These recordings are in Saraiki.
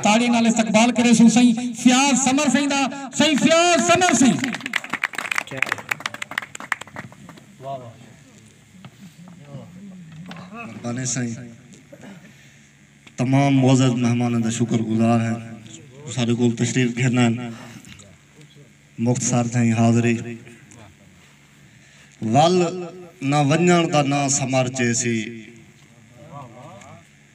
تاڑی نال استقبال کریسوں سئیں فیاض سمر سئیں دا سئیں فیاض سمر سئیں مردانے سائیں تمام معزز مہمانوں دا شکر گزار ہیں سارے کول تشریف گھرنا ہیں مختصر تھیں حاضری ول نہ ونجان دا نہ سمر چیسی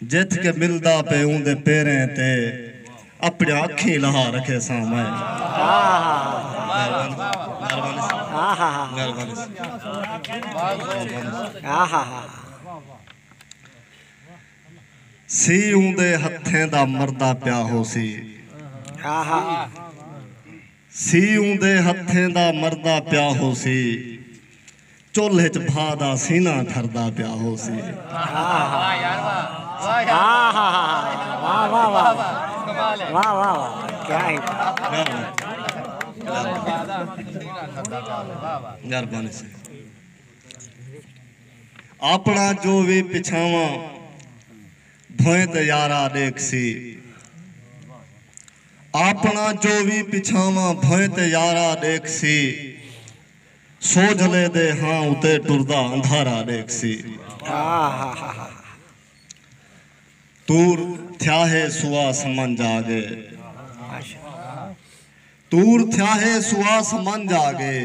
جت کے ملدا پے اوندے پیریں تے اپنیاں اکھیں لہا رکھیساں میں سی اوندے ہتھیں دا مردا پیا ہوسی۔ سی اوندے ہتھیں دا مردا پیا ہوسی چلھ اچ بھا دا سینہ ٹھردا پیا ہوسی آپنڑا جو وی پچھاواں بھوئیں تے یارا ڈیکھسی۔ آپݨا جو وی پچھاواں بھوئیں تے یارا ݙیکھسی سوجھلے دے ہاں اتے ٹردا اندھارا ݙیکھسی تور تھیا ہے سوا سمنجھ آ گئے تور تھیا ہے سوا سمنجھ آ گئے۔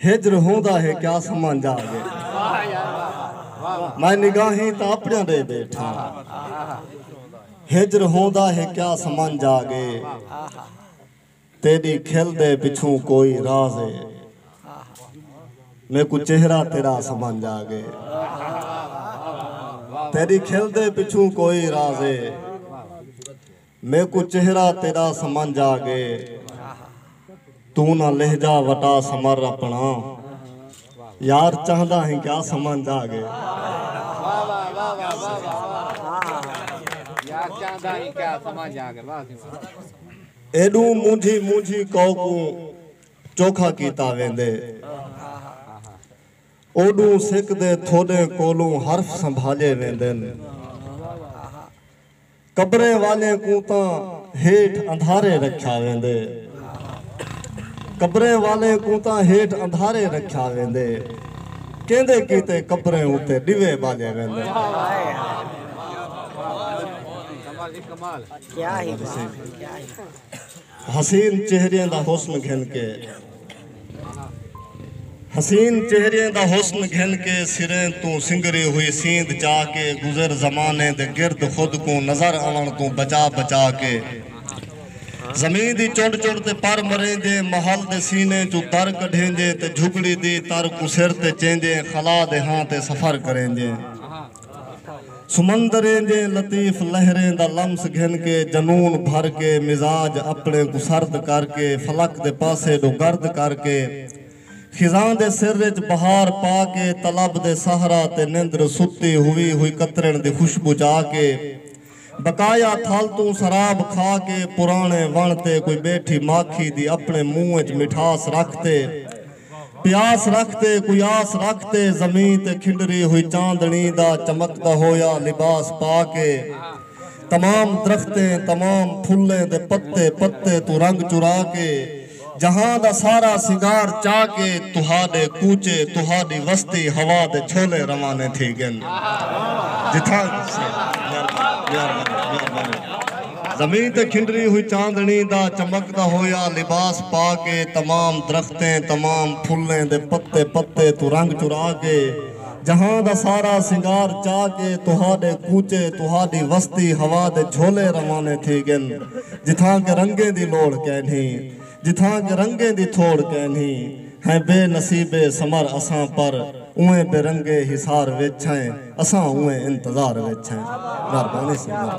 ہجر ہوندا ہے کیا سمجھ آ گئے میں نگاہیں تاں اپنیاں ڈے بیٹھاں ہجر ہوندا ہے کیا سمجھ آ گئے تیڈی کھل دے پچھوں کوئی راز ہے میکوں چہرہ تیڈا سمجھ آ گئے تیڈی کھل دے پچھوں کوئی راز ہے میکوں چہرہ تیݙا سمنجھ آ ڳئے توں نہ لہجہ وٹا سمر اپݨا یار چہندا ہیں کیا سمنجھ آ ڳئے ایݙوں مونجھی مونجھی کوں کوں چوکھا کیتا ویندے اوݙوں سک دے تھوݙیں کولوں حرف سنبھالے ویندن۔ قبریں والیں کوں تاں ہیٹھ اندھارے رکھیا ویندے قبریں والیں کوں تاں ہیٹھ اندھارے رکھیا ویندے کیندے کیتے قبریں اتے ݙیوے ٻالے ویندے۔ حسین چہریاں دا حسن گھن کے حسین چہریاں دا حسن گھن کے سرین توں سنگری ہوئی سیند چا کے گزر زمانے دے گرد خود کوں نظر آن توں بچا بچا کے زمین دی چڑ چڑ تے پر مریں دے محل دے سینے چو تر کڈھیں دے تے جھگڑی دی تر کو سر تے چیں دے خلا دے ہاں تے سفر کریں دے سمندریں دیاں لطیف لہریں دا لمس گھن کے جنون بھر کے مزاج اپݨے کوں سرد کر کے فلک دے پاسے ݙو گرد کر کے خزاں دے سر اچ بہار پا کے طلب دے صحرا تے نندر ستی ہوئی ہوئی قطرݨ دی خوشبو چا کے بقایا تھل توں سراب کھا کے پراݨے وݨ تے کوئی ٻیٹھی ماکھی دی اپݨے منہ ءچ مٹھاس رکھ تے پیاس رکھ تے کوئی آس رکھ تے زمین تے کھنڈری ہوئی چاندݨی دا چمکدا ہویا لباس پا کے تمام درختیں تمام پھلیں دے پتے پتے توں رنگ چرا کے جہاں دا سارا سنگار چا کے تہاڈے کوچے تہاڈی وستی ہوا دے چھولے روانے تھی گن جتھاں زمین تے کھنڈری ہوئی چاندنی دا چمکدا ہویا لباس پا کے تمام درختیں تمام پھلیں دے پتے پتے توں رنگ چرا کے جہاں دا سارا سنگار چا کے تہاڈے کوچے تہاڈی وستی ہوا دے جھولے روانے تھی گن جتھاں کہ رنگیں دی لوڑھ کینھی جتھاں کہ رنگیں دی تھوڑ کینھی ہیں بے نصیبے سمر اساں پر اوئیں بے رنگے حصار وچ ہیں اساں اوئیں انتظار وچ ہیں مہربانی سمر۔